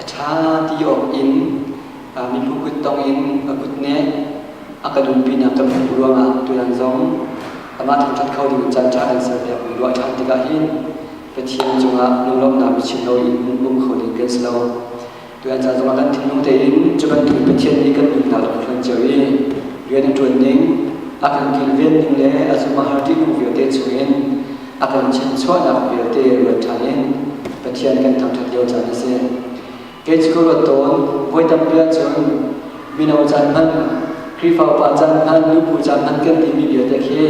a ṭha ti awk in mibu kut tong in a kut nih a ka dunpinak ka hmuh ruangah tuan zong amah thangṭhat kho ding caan ṭha kan ser piak ruah ṭhan tikah hin Pathian cungah lunglawmhnak biachim lo in um kho ding kan si lo. Tuan ca zongah kan thinlung tein cu bantuk Pathian nih kan nunnak a hman cio i rian a ṭuan ning, a kan kilven ning le a zumhahar ṭihnung vialte chungin a ponchen chuahnak vialte ruat ṭhan in Pathian kan thangṭhat lio caan a si. Kei cu ka ruat tawn, voi tampi ahcun mino caan hmanh, Khrihfa upa caan hmanh, nupu caan hmanh kan timi vialte khi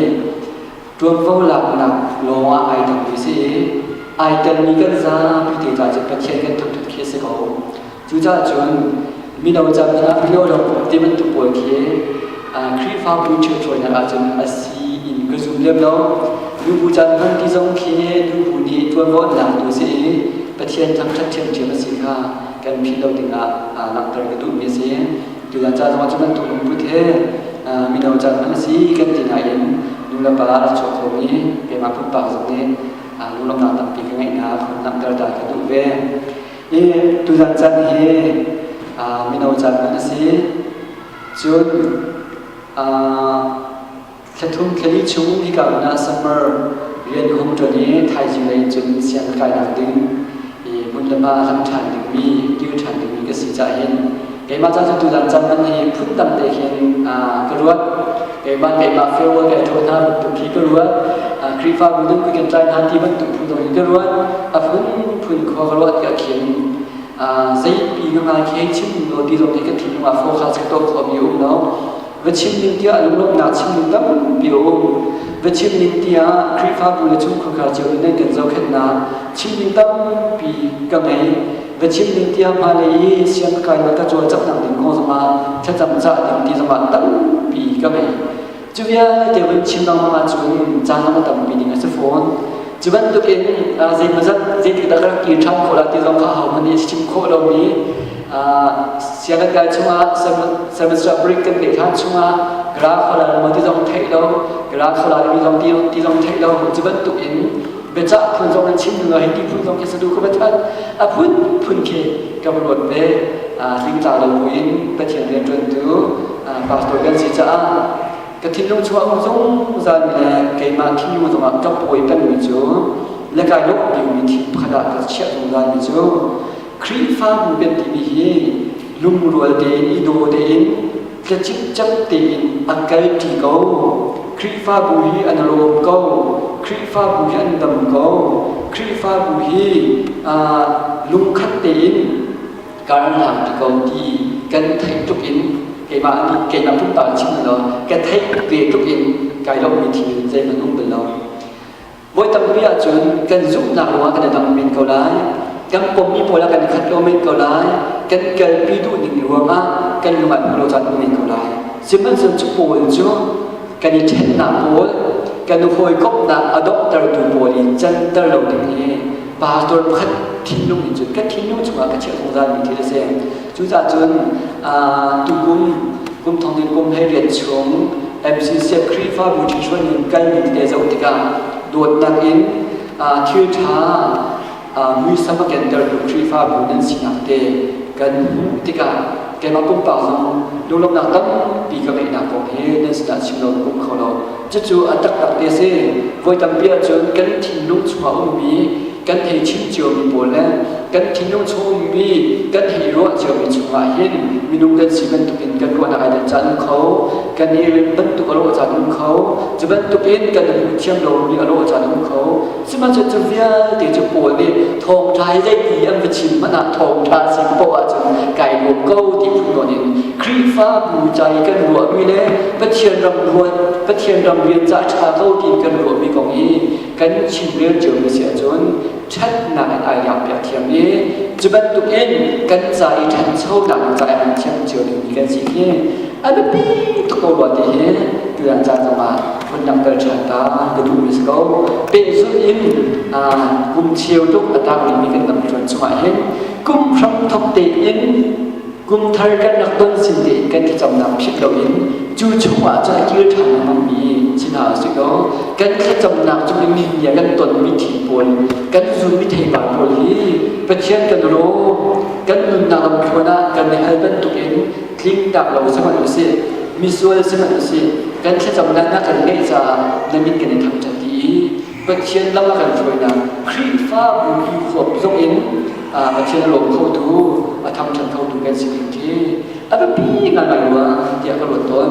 ṭuanvo laknak lawng ah ai tangmi si i ai telmi kan zapi te caah cu Pathian kan thangṭhat khi a si ko. Cucaah cun mino ca ah lio ti bantuk pawl khi Khrihfabu church hawinak ahcun a si in ka zum lem lo. Nubu caan hman ti zong khi nubu nih tuanvo tu si i Pathian thangṭhat ṭhiamṭhiam a si kha kan philh lo dingah langhter ka duhmi a si. Tutan ca zong ahcun atu lungput he mino caan hman a si kan ti nain nulepa a rak chuak khomi keimah pumpak zong nih lunglawmhnak tampi ka ngeihnak langhter ta ka duh ve. Hi tuzan caan hi mino caan kan si. Cun thlathum thlali chung hika na summer rian hung ṭuan i thaizing lei cun sianginn kainak ding i hmun le hma lam ṭhan dingmi dir ṭhan dingmi ka si cah hin keimah ca cu tudan cam man hi phut tam te hin ka ruat keimah keimah farewell he thaw hna bantuk hi ka ruat Khrihfabu nan kukin tlai hna ti bantuk phu dong in ka ruat a phun phun kho ka ruat ka khian zeipi na ngai khe chim lo ti zong hi ka thinlung ah fo kha chak to kho mi um lo va chim ning tiah lunglawmhnak chimning tampi a um va chim ning tiah Khrihfabu le chung khuakha cio in nan kan zohkhenhnak chimning tampi ka ngei va chim ning tiah hma lei i sian kai le ka cawlcanghnak ding kong zongah thlacam cah ding ti zongah tampi ka ngei cu vialte te van chim lengmang ahcun caan zong a tampi ding a si fawn cu bantukin zeimazat zeitik dah rak ti ṭhan khawh la ti zong kha ahohmanh nih a chim khawh lomi sianginn dai chungah service ah break kan pe hlan chungah gara khalar mo ti zong theih lo gara khalar mi zong ti zong theih lo cu bantuk in biacah phun zong nan chim hnu hi ti phun zong ke sadu ka bathat a phun phun ke ka ruat ve ringtla lo buin pathian rian tuantu pastor kan si caah ka thinlung chuah zong zan le keimah thinu zongah ka pawi panmi cu le kai lok biumi thi pakhat ah ka chiah zong zan mi cu Khrihfabu kan timi hi lungrual tein, i daw tein, tlecingcem tein an kalṭi ko. Khrihfabu hi an lawm ko. Khrihfabu hi an dam ko. Khrihfabu hi uh, lungkhat tein karlak ti ko ti kan theih tuk in keimah nih keimah pun ta chim lo ka theih ve tuk in kai lo mi thil zeihman um bel lo Voi tampi ahcun kan zumhnak ruangah kan i dang men ko lai. Kan pommi pawl ah kan i khat lo men ko lai. Kan i kalpi duhning ruangah kan lung ah puro caan um men ko lai. Sihmanhsehlaw cu pawl cu kan i ṭhennak pawl, kan i hawikomhnak a donghtertu pawl i canter lo ding hi pastor pakhat thinlung in cun ka thinlung chungah ka chiah zungzalmi thil a si. Cucacun tukum kum thong din kum he rian chung MCC Krifa Mutishuan in kalmi te zoh tikah dawtnak in thil ṭha muisam a kentertu Krifabu nan sinak te kan hmuh tikah keimah pumpak zong lunglawmhnak tampi ka ngeihnak kong hi nan sinah chim lo ka pum kho lo Cucu a taktak ti a si. Voi tampi ahcun kan thinlung chung a ummi, kan hei chim ciomi pawl le kan thinlung chung a ummi, kan hei ruah ciomi chungah hin minung kan si bantukin kan ruahnak ai den caan um kho. Kan i rem bantuk a rawh caan um kho. Cu bantukin kan hmuh thiam lomi a rawh caan um kho. Sihmahcun cu vialte cu Paul nih thawngṭha hi zeiti an va chim hmanh ah thawngṭha si poh ahcun kai lawm ko ti phung in Khrihfabu ca i kan ruahmi le Pathian ram luat Pathian ram rian ca ṭha ko ti kan ruahmi kong i kan chimrel cionmi si ahcun ṭhatnak in ai lakpiak thiam i cu bantukin kan ca i ṭhanchonak ca i han thiam cio dingmi kan si khi a biapi tuk ko rua ti hi tutan caan zongah an rak kal ṭhan ta ka duhmi si ko pehzulh in kum cheu tuk a tang bikmi kan lam ṭuan chungah hin kum hram thok tein kum thar kan rak ton sin tein kan thlacamnak phit loin cu chungah cun a kir ṭhan lengmangmi si hna si ko kan thlacamnak cu mi nia kan tonmi thi pawl kan zunmi theipar pawl hi Pathian kan rawm kan nunnak lamthluan ah kan i hal bantukin tling tak lo sihmanh usih misual sihmanh usih kan thlacam lannak kan ngeih caah na min kan i thangṭhat ti i Pathian lam a kan hruainak Khrihfabu i huap zong in Pathian a lawm khotu a thangṭhat khotu kan si ding khi a biapi ngai ruah tiah ka ruat tawn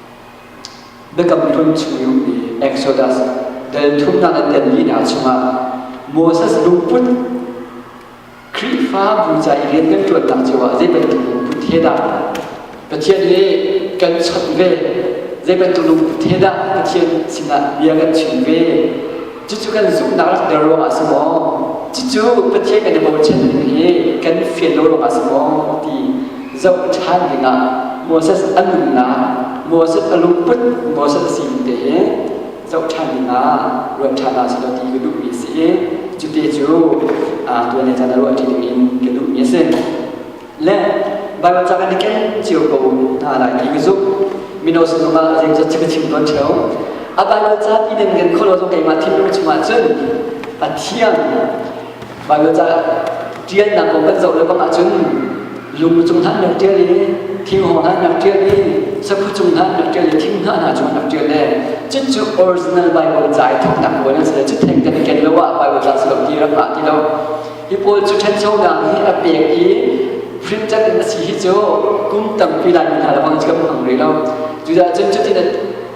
Biakam thum chung i Exodus dan thumnak an tan li hna chungah Moses lungput Khrihfabu ca i rian kan ṭuannak cio ah zei bantuk lungput he dah Pathian he kan chawnh ve zei bantuk lungput he dah Pathian sinah bia kan chim ve Cucu kan zumhnak rak der ruang ah si maw, cucu Pathian kan i bochan ning hi kan fian lo ruang ah si maw ti zoh ṭhan ding ah Moses a nunnak, Moses a lungput, Moses a sining te hi zoh ṭhan ding ah ruat ṭhan ah si law ti ka duhmi a si i, cu te cu tuan le caan ah ruah ṭi ding in ka duhmi a si. le Bible cak in ken cio ko hna lai ti ka zumh mino sinum ah zem zat chim chim ton cheu a Bible ca pi den kan kholo zo keimah thinlung chungah cun a thiang Bible ca tial nak ko kan zo le bang ahcun lung cung hlan nak tial i thing hong hlan nak tial i sakhu cung hlan nak tial i thing hna hna cung nak tial le cun cu original Bible ca i thok nak ko nan se cu theng kan ken lo ah Bible ca se lo ti ram ma ti lo Hi pawl cu ṭhanchonak hi a pek i fimcat in a si hi cu kum tampi lai mi hna lebang cu kan hmang rih lo. Cudah cun cutin a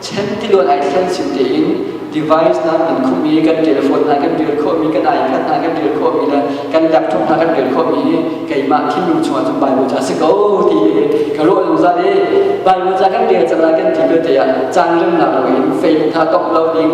chen tiluan ai thlen sin tein device nan kan khumh i kan telephone hna kan rel khawhmi kan icon hna kan rel khawhmi le kan laptop hna kan rel khawhmi hi keimah thinlung chungah cun Bible cu a si ko ti i ka rawh zungzal i Bible ca kan rel cang lai kan ti ko te ah caan remnak loin Facebook hna tongh lo ding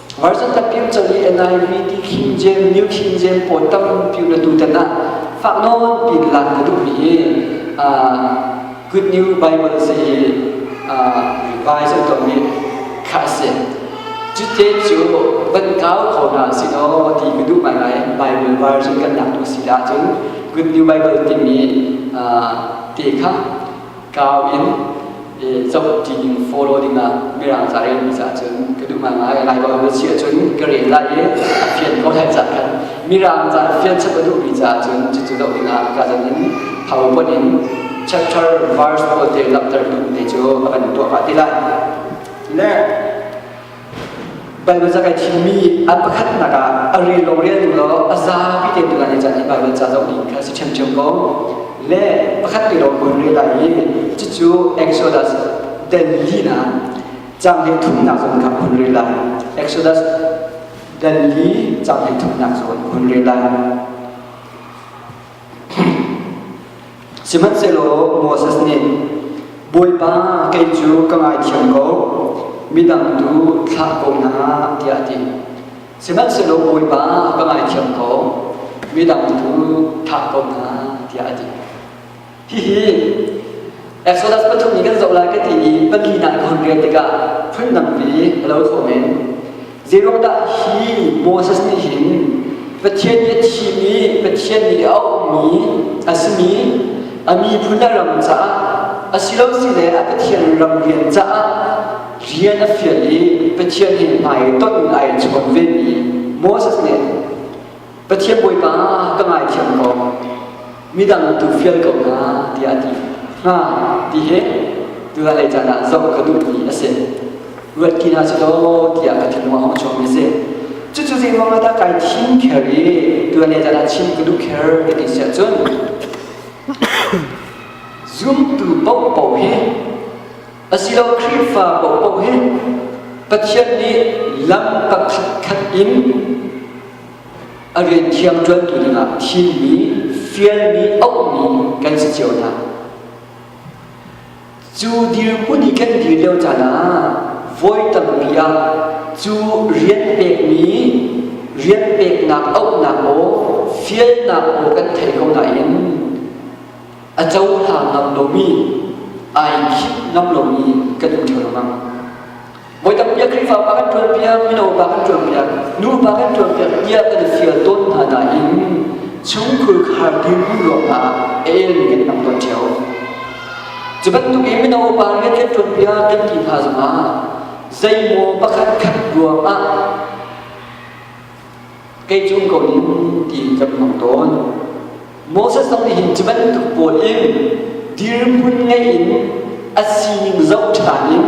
Marjan Tapim coli NIV ti khim jen new khim jen pawn tam piu na tu tan ah fak nawn pin lan na duh mi hi good new Bible si hi revise an tong mi kha si cu te cu ban kau kho na si no ti ka duh mai lai Bible version kan nak tu si da cun good new Bible ti mi te kha tlau in zoh ṭining follow dingah mirang ca rel mi ca cun ka duh ngai lai ko na si cun ka rel lai i a fian ko hai cak khan mirang ca fian chap a duh mi ca cun cucu lo dingah ka dan in thau pot in chapter verse pawl te langhter tu te cu a kan tuah ka ti lai ne Baibal ca kai thimmi an pakhatnak ah a ril lo rialtu law a zapi te tu nan i can i Baibal ca zoh ding kha si ṭhiamṭhiam ko. Le pakhat te lawng kun ril lai i cucu Exodus den linak cang hnih thumnak zawn kha kun ril lai. Exodus den li cang hnih thumnak zawn kun ril lai. Sihmanhsehlaw Moses nih, Bawipa, kei cu ka ngaithiam ko, midang tu thlah ko hna, tiah a ti. Sihmanhsehlaw Bawipa, ka ngaithiam ko, midang tu thah ko hna, tiah a ti. Hihi Exodus pathum i kan zoh lai ka ti i pahnih ah ka hun rel tikah phundang pi a lo thawng in Zeiruangdah hi Moses nih hin Pathian nih a thim i Pathian nih a ummi a simi a miphun a ram caah a si lo si le a Pathian ram rian caah rian a fial i Pathian hi hmai i ton in ai chuan vemi Moses nih Pathian Bawipa ka ngaithiam ko midang tu fial ko hna tiah a ti hnga ti hi tunalei caan ah zoh ka duh mi a si ruatki hna si law tiah ka thinlung a hong chuak mi a si cucu zeiruang ah dah kai thim kher i tunalei caan ah chim ka duh kher ka ti si ahcun zumtu paohpaoh hi asilo Khrihfa paohpaoh hi Pathian nih lam pakhat khat in a rian thiangṭuantu dingah thimmi, fialmi, auhmi kan si cio hna. Cu dirhmun i kan dir lio caan ah voi tampi ah cu rian pekmi, rian peknak auhnak maw, fialnak maw kan thei ko nain a cohlang ngam lomi, ai khinh ngam lomi kan um ṭheo lengmang. Voi tampi Khrihfa pa kan ṭuan piak, mino pa kan ṭuan piak, nupa kan ṭuan piak tiah kan i fial tawn hna nain chungkhur khar ding ruangah a elmi kan tam tawn ṭheo. Cu bantukin mino pa rian kan ṭuan piak kan ti hna zongah zeimaw pakhat khat ruangah kei cu ko in ti kan hmang tawn Moses zong nih hin cu bantuk pawl in dirhmun ngei in a sining zoh ṭhan in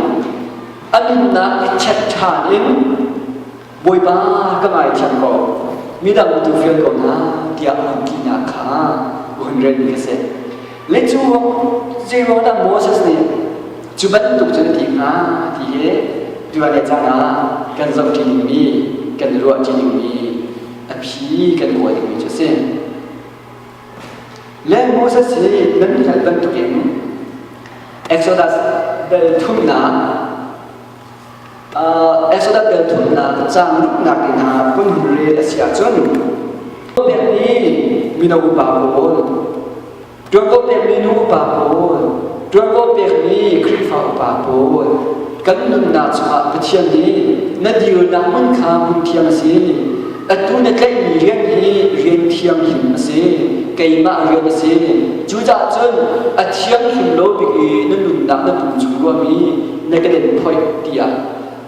a nunnak i check ṭhan in Bawipa ka ngaithiam ko midang tu vial ko hna tiah an tinak kha hun relmi ka si Le cu zeiruangdah Moses nih cu bantuk cun a ti hnga ti hi tuale caan ah kan zoh ṭi dingmi, kan i ruah ṭi dingmi, a phi kan kawl dingmi cu a si. Le Moses hi nan hngalh bantukin Exodus bel thumnak Exodus ṭhawnnak caan lumnak in ah hmun hun re a si ahcun pek i mino upa pawl ṭuan ko pekmi nu upa pawl ṭuan ko pekmi Khrihfa upa pawl kan nunnak chungah Pathian nih na dirnak hmun kha hmun thiang a si atu na tlaihmi rian hi rian thianghlim a si keimah rian a si cucaah cun a thianghlim lo bik i na nunnak na pum chung ruahmi na kan in phoih tiah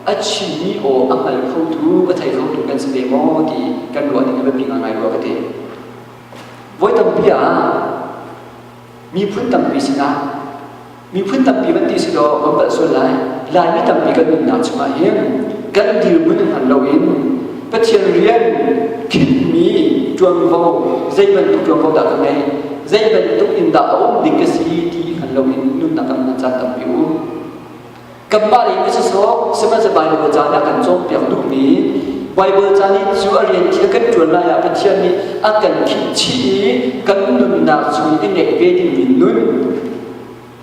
a chimmi aw a hngal khotu a thei khotu kan si ve maw ti kan ruah ning a biapi ngaingai rua ka ti voi tampi ah miphun tampi sinah miphun tampi van ti si law kan palh sual lai laimi tampi kan nunnak chungah hin kan dirhmun hman loin Pathian rian thinhmi ṭuanvo zei bantuk ṭuanvo dah kan ngei zei bantuk in dah a um ding ka si ti hngal loin nunnak kan hman caan tampi um kanmah nih ka sawsawk sihmanhseh Baibal caan ah kan cawnpiak duhmi Baibal caan i cu a rian khi kan ṭuan lai ah Pathian nih a kan khihchih i kan nunnak chung i ngeih ve dingmi nun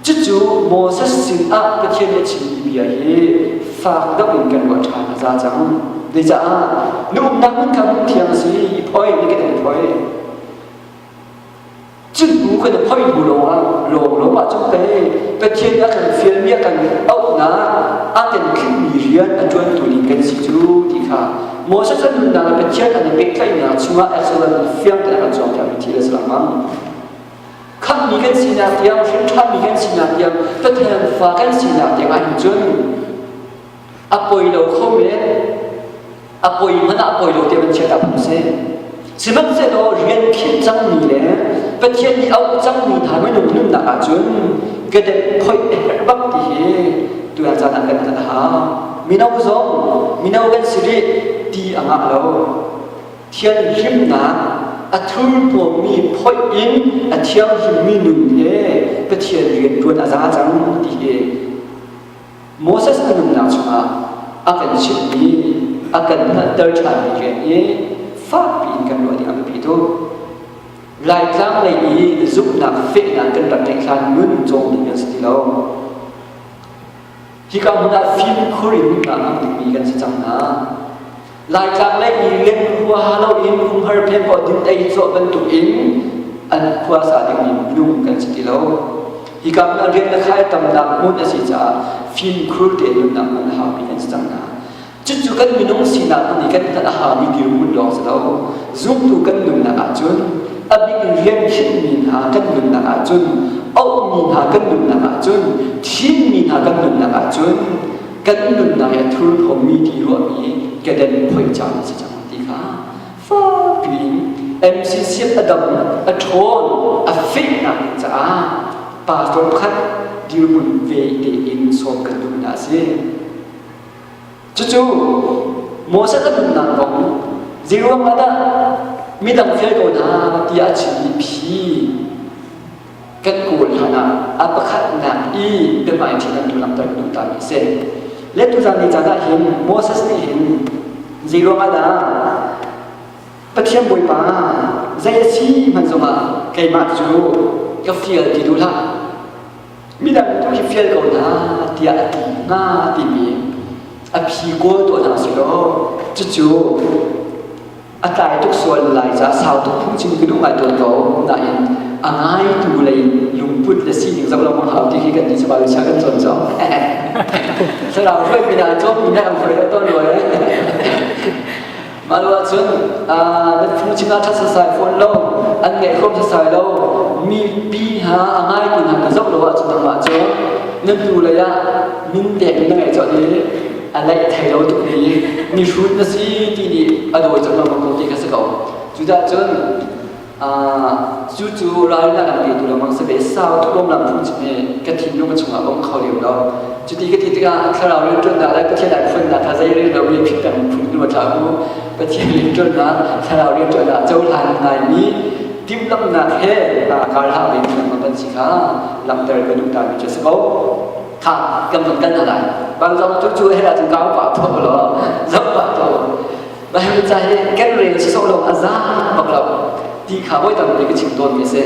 Cucu Moses sinah Pathian nih a chimmi bia hi fak deuh in kan ruah ṭhan a za cang. Zeicah? Na umnak hmun kha hmun thiang a si, i poi, na ke nan poi. Cun hnu kan i poi hnu lawngah lawnglawng ah cun pei Pathian nih a kan fialmi a kan auhnak aa temtlikmi rian a ṭuantu ning kan si cu ti kha Moses an nunnak le Pathian an i pehtlaihnak chungah Exodus fiang tein a kan zuamtermi thil a si lengmang. khamhmi kan sinak tiang hrinṭhanmi kan sinak tiang Pathian fa kan sinak tiang ahhin cun a poi lo kho men a poi hmanh ah poi lo tiah van chiat ah phung si sihmanhsehlaw rian khinh cangmi le Pathian i auh cangmi hna minung nunnak ahcun kadep phoih bak ti hi tuan caan ah kan kan hau mino zong mino kan si rih ti a ngah lo Thianhlimnak a thurhnawmmi phoih in a thianghlimmi nun he Pathian rianṭuan a za cang ti hi Moses a nunnak chungah a kan chimhmi, a kan hngalhter ṭhanmi rian i fakpi in kan ruah nih a biapi tuk. Laitlang lei i zumhnak fehnak kan rak ngeih hlan nun cawng ding an si ti lo. Hika hmun ah fimkhur in a ngang bikmi kan si cang hna. Laitlang lei i rian huaha loin phunghar phepaw dun ei cawh bantuk in an huasa dingmi minung kan si ti lo. Hika hmun ah rian na khai tamnak hmun a si caah fimkhur tein nunnak hmun a haupi kan si cang hna. Cucu kan minung sinak hmun i kan hngalh a hami dirhmun lawng si lo. Zumtu kan nunnak ahcun a bik in rian khenhmi hna kan nunnak ahcun, auhmi hna kan nunnak ahcun, thimmi hna kan nunnak ahcun, kan nunnak i a thurphawmi ti ruahmi kedan phoi caan a si cang ti kha fakpi in MCCF a dam, a ṭhawn, a fehnak ding caah pastor khat dirhmun ve tein sawm kan duh hna a si. Cucu Moses a pumhnak kong zeiruangah dah midang fial ko hna tiah a chim i phi kan kawl hlan ah a pakhatnak i biahmaiṭhing an tu langhter duh ta mi a si. Le tuzan ni caan ah hin Moses nih hin zeiruangah dah Pathian Bawipa zei a si hman zongah keimah cu ka fial ti duh hlah midang tu hi fial ko hna tiah a ti hna timi a phi kawl tuah hna si law cucu a tlai tuk sual lai ca sau tuk phung cin ka duh ngai tawn ko nain a ngaitu lei lungput le sining zoh lo mang hau ti khi kan ti chaba sa kan cawn co thlarau hruai pin ah cawm mi na am hruai da ton ruai Mah lo ahcun na phu sinah ṭhat sasai fawn lo an ngeih khawm sasai lo mipi hna a ngaitu hna ka zoh lo ahcun nangmah cu na hnu lei ah min pek na ngeih cawlh i a leih thei lo tuk i mihrut na si ti nih a dawi cang lengmang ko ti kha si ko. Cudah cun cucu ral na kan lehtu lengmang si ve sau tukom lam thung chi ne ka thinlung a chungah om kho liam lo cuti ka ti tikah thlarau rian tuan da le pathian ai phun da tha zei rian lo mi phit peng phun nu tha ku pathian rian tuan na thlarau rian tuan da cho hlan ngai mi tim lam nak he kar ha ve mi ma ban si kha lamter ka nu ta mi che si ko tha kan ton kan alai ban zong tu chu he ra chung kau pa tho lo zong pa tho Baibal ca hi kan rel sawh lo a zaang bak lo ti kha voi tampi ka chim tawnmi a si.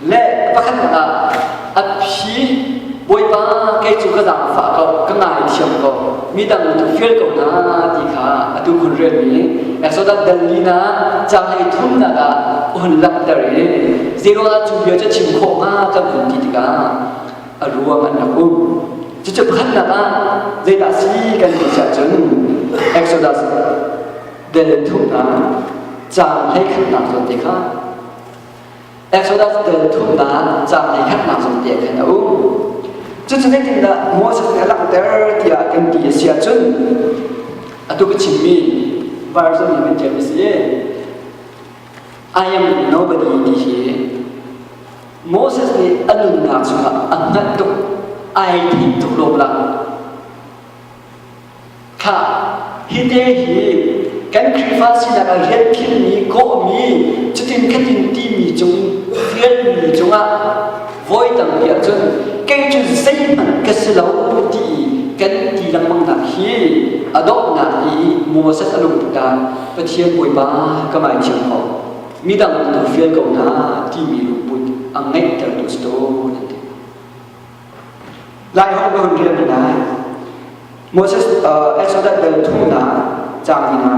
Le pakhatnak ah a phi Bawipa kei cu ka zaangfah ko ka ngaithiam ko mi dang tu feel ko na ti kha a tu hun relmi Exodus dalina ca hei thumnak ah hun langhter i zero ah cu bia cu chim khawh hnga kan hun ti tikah a ruang an rak um. Cucu khatnak ah zeidah si kan ti ah cun Exodus del thumnak cang hlei khatnak zawn te kha Exodus del thumnak cang hlei khatnak zawn te khan a um. Cucu zeitindah Moses nih a langhter tiah kan ti a si ah cun atu ka chimmi version hi kan tiam a si i I am nobody ti hi Moses nih a nunnak chungah a hngalh tuk, ai tim tuk lawm la. Kha hi te hi kan Khrihfa sinak ah rian khilmi, kawhmi, cutin khatin timi cung rianmi cungah voi tampi ahcun kei cu zeihmanh ka si lo ti kan ti lengmangnak hi a donghnak i Moses a lungput ah Pathian Bawipa ka ngaithiam ko. midang an fial ko hna timi lungput a ngeihtertu si tuan an ti. Lai ho ka hun rian hna. Moses uh, Exodus bel thu na chang hna.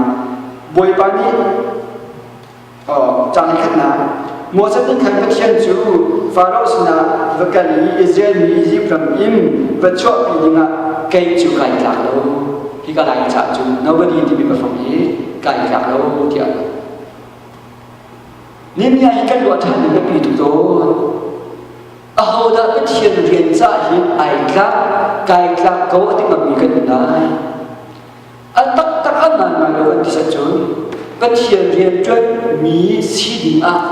Bawipa nih uh, chang khat na Moses din khan Pathian cu Pharaoh sina va kal i Israel mi Egypt ram in va chuah pi dingah kei cu kai tlak lo hi ka lai cha cu nobody ti mi ba fang hi kai tlak lo tiah Nehemiah i kan ruah ṭhan ning a pi cu cawn. Ahodah Pathian rian ca hi ai tlak, kai tlak ko a ti ngammi kan in lai. A taktak a ngaingai lo an ti set cun Pathian rianṭuanmi si ding ah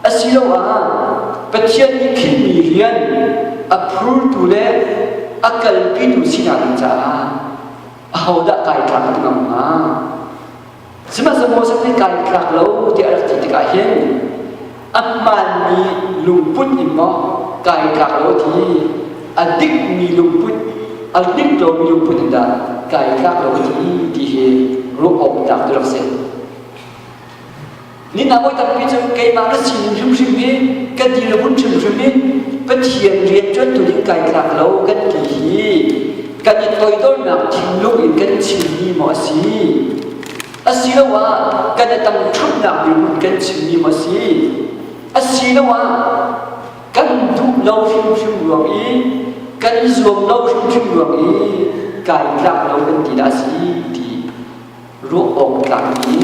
asiloah Pathian nih khilmi rian a phurtu le a kalpitu sinak ding caah ahodah kai tlak a ti ngam hnga? Sihmanhsehlaw zeihmanh kai tlak lo tiah a rak ti tikah hin a hmaanmi lungput in maw kai tlak lo ti a dikmi lungput a dik lomi lungput in dah kai tlak lo ti ti hi ruah awk tlak tu rak si. Ninak voi tampi cu keimah kan sin in hrimhrim i kan dir le bunh hrimhrim in Pathian rian ṭuantu ding kai tlak lo kan ti hi kan i toidornak thinlung in kan chimmi maw a si asiloah kan i tangṭhatnak dirhmun kan chimmi maw a si asiloah kan duh lo hrimhrim ruang i kan i zuam lo hrimhrim ruang i kai tlak lo kan ti dah a si ti ruah awk tlakmi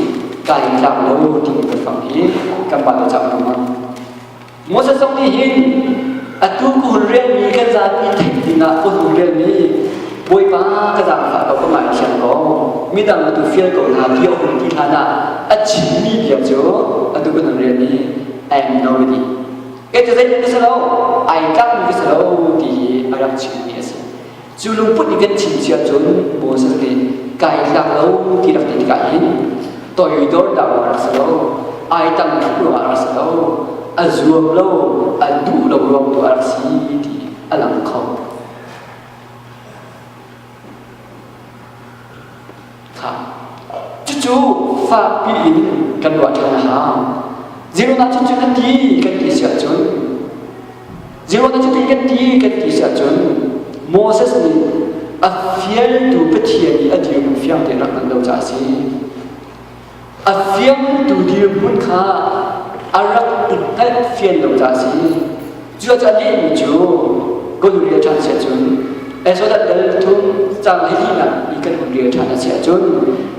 kai tlak lo timi kan fang hi kan mah le cang ruang Moses zong nih hin atu ku relmi kan zapi theih dingah ko nu relmi bawipa ka zang kha ko ka ngai thiam ko midang atu feel ko hna ti awk ti hna na a chimmi bia cu atu kan rel ni I am nobody ke tu zei bi salo ai tlak mi bi salo ti hi a rak chimmi a si Cu lungput i vet chin si ahcun Moses nih kai hlak lo ti rak ti tikah hin toiwi dor dang a rak si lo, ai tang tuk ruangah a rak si lo, a zuam lo, a duh lo ruang tu a rak si ti a lang kho. cucu fakpi in kan ruah ṭhan a hau zeirona cu cun a ti kan ti si ahcun zeirona cu ti kan ti kan ti si ahcun Moses nih a fialtu Pathian i a dirhmun fiang tein rak nan do caah a si a fiangtu dirhmun kha a rak in hngalh fian lo caah a si. Cucaah nih mi cu goluri a ṭhan si ahcun Exodus dal thum cang hleihnih i kan umri a ṭhan a si ahcun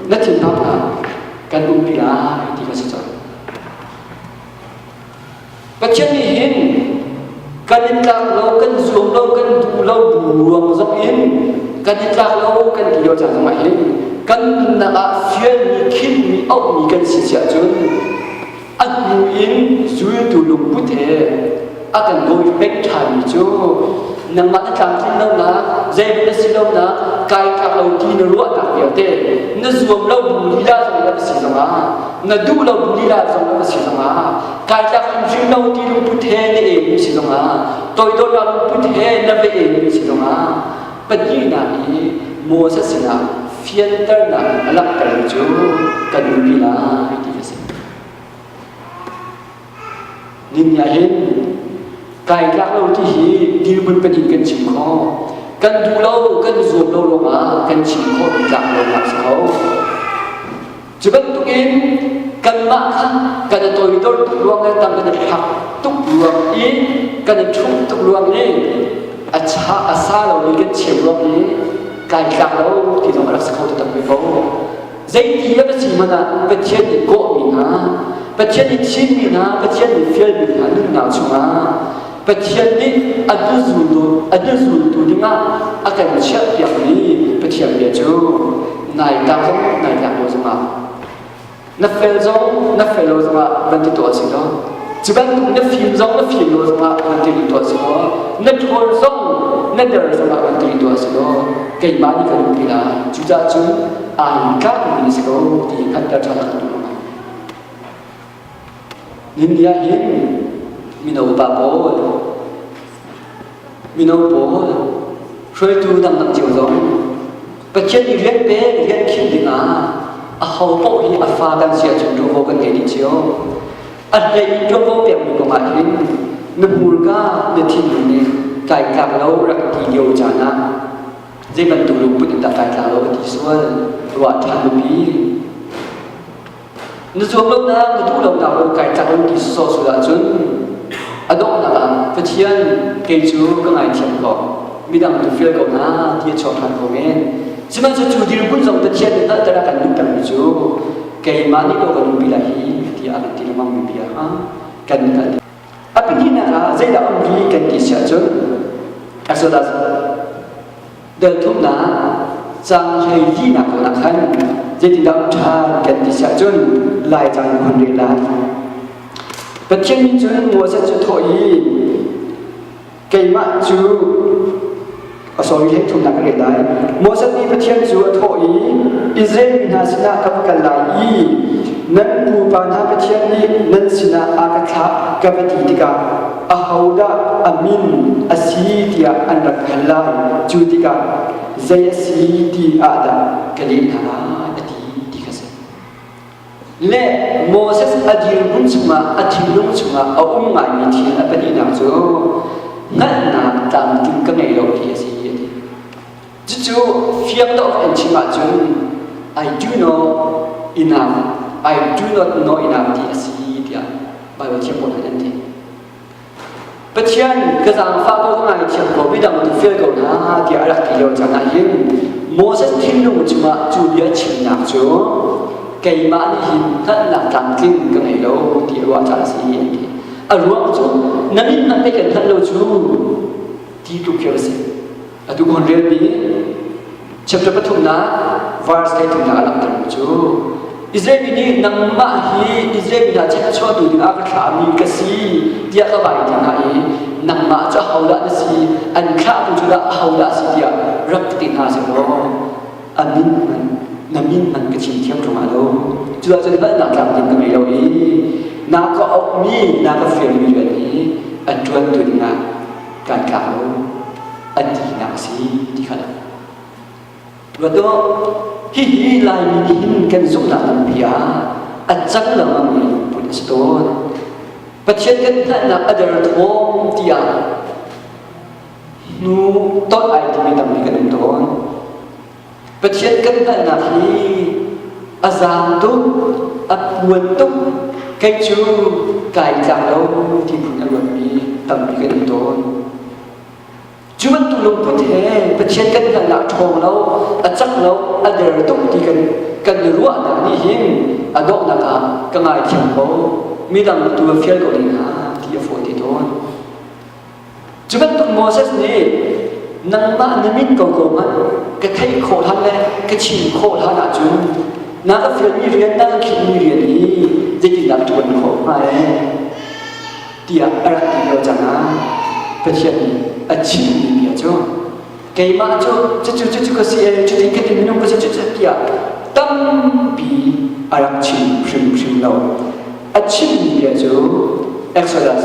na thinphang hlah kan umri lai ti kan si cang. Pathian nih hin kan in tlak lo, kan zuam lo, kan duh lo bu ruang zong in kan i tlak lo, kan ti lo caan zongah hin kan nunnak ah fialmi, khinhmi, auhmi kan si siah cun a hnu in zultu lungput he a kan dawi pek ṭhanmi cu nangmah na tlamtlin lonak, zeihmanh na si lonak, kai tlak lo ti na ruahnak vialte, na zuam lo bu lila zong na va si zongah, na duh lo bu lila zong na va si zongah kaitak in rimno ti lungput he na e mi si zongah toidornak lungput he na ve e mi si zongah pahnihnak i Moses sinah fianternak in a langhtermi cu kan nupi lai ti a si ning ah hin kai tlak lo ti hi dirmun pahnih kan chim kho kan duh lo kan zuam lo ruangah kan chim khawh tlak lo nak si kho Cu bantukin kanmah kha kan i toidor tuk ruang le tam kan i phak tuk ruang i kan i ṭhum tuk ruang i a cha a sa lomi kan chiah ruang i tlaitlak lo ti zong a rak si kho tu tampi ko. Zeiti a va si hmanh ah Pathian nih kawhmi hna, Pathian nih chinmi hna, Pathian nih fialmi hna nunnak chungah Pathian nih a hnu zultu a hnu zultu dingah a kan chiahpiakmi Pathian bia cu nai ta zong nai tlak lo zongah na fel zong na fel lo zongah van ti tuah si lo cu bantuk na fim zong na fim lo zongah van ti tuah si lo na ṭhawl zong na der zongah van ti tuah si lo keimah nih kan umpi la cucah cun ai tlakmi si ko ti hngalhter ṭhan a kan duh India in mino pa pawl, mino pawl, hruaitu dangdang cio zong Pathian i rian pek, rian khinh dingah a ho paoh hi a fa kan si ahcun ṭuanvo kan ngei dih cio. A hlei ṭuanvo pekmi kong ahhin na hmurka na thinlung nih kai tlak lo rak ti lio caan ah zei bantuk lungput in dah kai tlak lo a ti sual ruah ṭhan nupi Na zuamlonak na duhlonak run kai cang an ti sawsawh sul ahcun a donghnak ah Pathian kei cu ka ngaithiam ko midang tu fial ko na ti a chuak ṭhan ko men sihmanhsehlaw cu dirhmun zong Pathian nih hngalhtera kan duhtermi cu keimah nih lo kan umpi lai hi ti a kan ti lengmang mi bia ha kan hngalh A pahnihnak ah zeidah um hi kan ti si ahcun as well as delthumnak cang hlei tinak kong ah khan zeitindah um ṭhan kan ti si ahcun lai cang hun rel lai Pathian nih cun Moses cu thawh i keimah cu a sawi he thumnak ka ngei lai Moses nih Pathian cu a thawh i Israel mi hna sinah ka va kal lai i nan pupa hna Pathian nih nan sinah a ka thlah ka va ti tikah ahodah a min a si tiah an rak hal lai cu tikah zei a si ti ah dah ka leh hna a ti ti ka si Le Moses a dirhmun chungah a thinlung chungah a um ngaimi thil a pahnihnak cu hngalhnak tlamtling ka ngei lo ti a si a ti. Cucu fiang dawh in chim ahcun I do know enough I do not know enough ti a si tiah Baibal thiambawt in an ti. Pathian ka zaangfah ko ka ngaithiam ko midang tu fial ko na tiah a rak ti lio cang ahhin Moses thinlung cungah cu bia chimnak cu keimah nih hin hngalhnak tlamtling ka ngei lo ti a ruah caah a si an ti a ruang cu na min na pei kan hngalh lo cu ti tluk khi a si Atu kun relpi chapter pathumnak verse thumnak a langhter cu Israel mi nih nangmah hi Israel mi hna chahchuahtu dingah ka thlahmi ka si tiah ka vai ti hna i nangmah cu ahodah na si an thlahtu cu dah ahodah si tiah rak ti hna sih law a min man na min man ka chim thiam ṭung lo cuah cun balnak tlamtling ka ngei lo i naa ka ukmi naa ka firmi rian hi an ṭuantu dingah kan tlak lo an tinak a si ti kha ruat dawh hihi laimi nih hin kan zumhnak lampi ah a cang lengmangmi lungput a si tawn pathian kan hngalhnak a der thawng tiah hnu ton ai timi tampi kan um tawn Pathian kan hngalhnak hi a zaam tuk, a puan tuk, kei cu kai tlak lo tiin a luatmi tampi kan um tawn. Cu bantuk lungput he Pathian kan hngalhnak ṭhawng lo, a cak lo, a der tuk ti kan kan i ruahnak nih hin a donghnak ah ka ngaithiam ko, midang tu fial ko ding hna ti a fawi ti tawn. Cu bantuk Moses nih nangmah na min ko ko hmanh ka theih khawh hlan le ka chim khawh hlan ahcun na ka fialmi rian na ka khimmi rian hi zeitindah ṭuan khawh hnga e tiah a rak ti lio cang ah Pathian nih a chimmi bia cu keimah cu cucu cucu ka si e cuti ka ti minung ka si cucu tiah tampi a rak chim hrimhrim lo a chimmi bia cu Exodus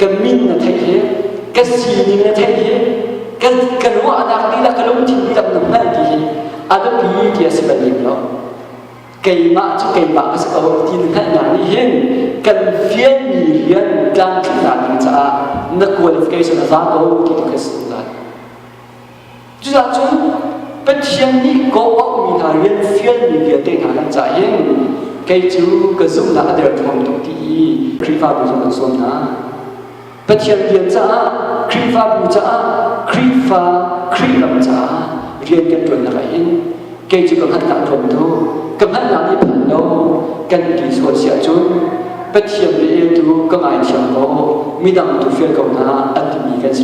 kan min na theih hi ka sining na theih hi ka, ka ruahnak lila ka lungthin lila na hman ti hi a biapi ti a si bal lo keimah cu keimah ka si ko ti na theihnak nih hin kan fianmi rian tlamtlinnak ding caah na qualification a za ko ti ka si lai Cucacun Pathian nih ka auhmi hna rian fialmi vialte hna nan cah in kei cu ka zumhnak a derthawm tuk ti i Khrihfabu zong an sawm hna. Pathian rian caah, Khrihfabu caah, Khrihfa, Khrih ram caah rian kan ṭuannak ah hin kei cu ka hngalhnak tlawm tuk. Ka hngalhnak i phan lo kan ti sual si ahcun Pathian bia eltu ka ngaithiam kaw midang tu fial ko hna an timi kan si.